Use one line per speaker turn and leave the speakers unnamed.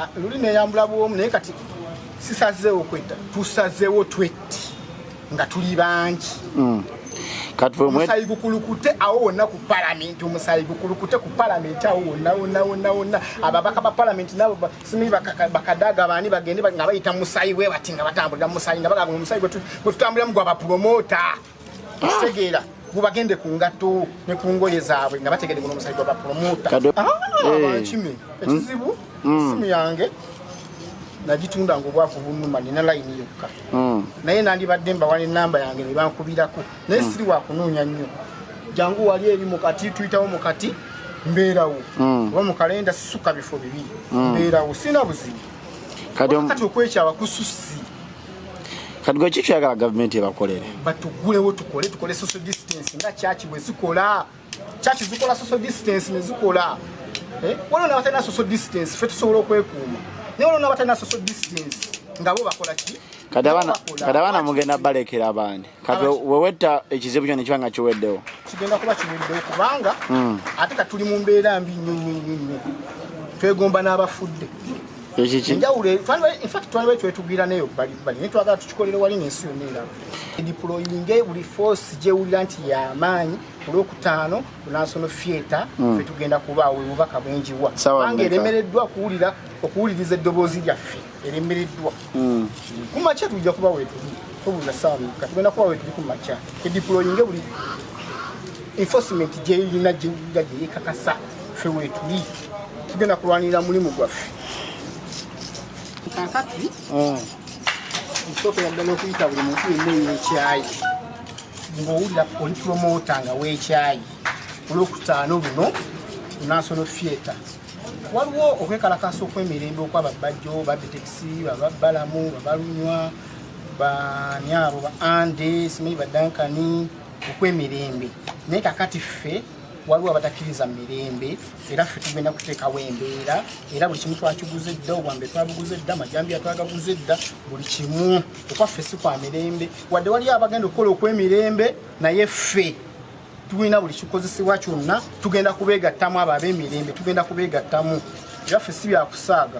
Ah, luli neyambula bwomu naye kati sisazeewo kwetta tusazeewo twetti nga tuli bangi mm. omusayi gukulukute awo wonna ku palamenti omusayi gukulukute ku palamenti awo wonna wonna wonna wonna ababaka ba palamenti nabo simi bakadaga baani bagende nga bayita musayi bwe bati nga batambulira musayi nga bagaga omusayi gwe tutambuliramu gwa bapulomota kitegeera mubagende ku ngatto ne ku ngoye zaabwe nga bategede guno omusajja bapromota ah, eh. bankime ekizibu mm. Mm. simu yange nagitunda nga obwavu bunuma nina layini yokka mm. naye nandibadde mbawa nenamba yange nebankubirako naye siri wakunoonya nnyo jangu wali eri mukati tuyitawo mukati mbeerawo oba mukalenda sisuka bifo bibiri mbeerawo sirina buzibu kati okwekyawa kususi
kati gwe kiki oyagala gavumenti ebakolere batugulewo tukole
tukole social distance nga kyaki bwe zikola kyaki zikola social distance ne zikola eh? waliwo nabatalina social distance fe tusobola okwekuuma naye waliwo nabatalina social distance nga bo bakola ki
kati abaana mugenda balekera abandi kati wewetta ekizibu kyo nekiba nga kiweddewo kigenda kuba kiweddewo
kubanga hmm. ate katuli mu mbeera mbi nnyo nnyo nnyo nnyo twegomba n'abafudde enjawulo infact twaliwo twetugwira nayo balibali naye twagala tukikolere wali nensi yonna era diployinge buli force gyewulira nti yamaanyi olwokutaano kunasono fieta hmm. fe tugenda kubaawo obubaka bwenjiwa kubanga eremereddwa okuwuliriza eddoboozi lyaffe erembereddwa hmm. ku makya tujja kuba wetuli tobula saamu ka tugenda kuba wetuli ku makya ediployinge buli enforcement gyeyirina gyewulira gyeyekakasa fe wetuli tugenda kulwanirira mulimu gwaffe kakati hmm. nsookera ddala okuyita buli muntu yenna eyekyayi ng'owulira oli promota nga wekyayi olwokutaano buno national theatre waliwo okwekalakaasa okwemirembe okwaba bajjo babitekisi bababbalamu babalunywa bani abo ba ande simanyi badankani okwemirembe naye kakati ffe waliwo abatakkiriza mirembe era ffe tugenda kuteekawo embeera era buli kimu twakiguze dda obwambe twabuguze dda amajambiya twagaguze dda buli kimu okwaffe si kwa mirembe wadde waliyo abagenda okukola okwemirembe naye ffe tulina buli kikozesebwa kyonna tugenda kubeegattamu abo ab'emirembe tugenda kubeegattamu byaffe si byakusaaga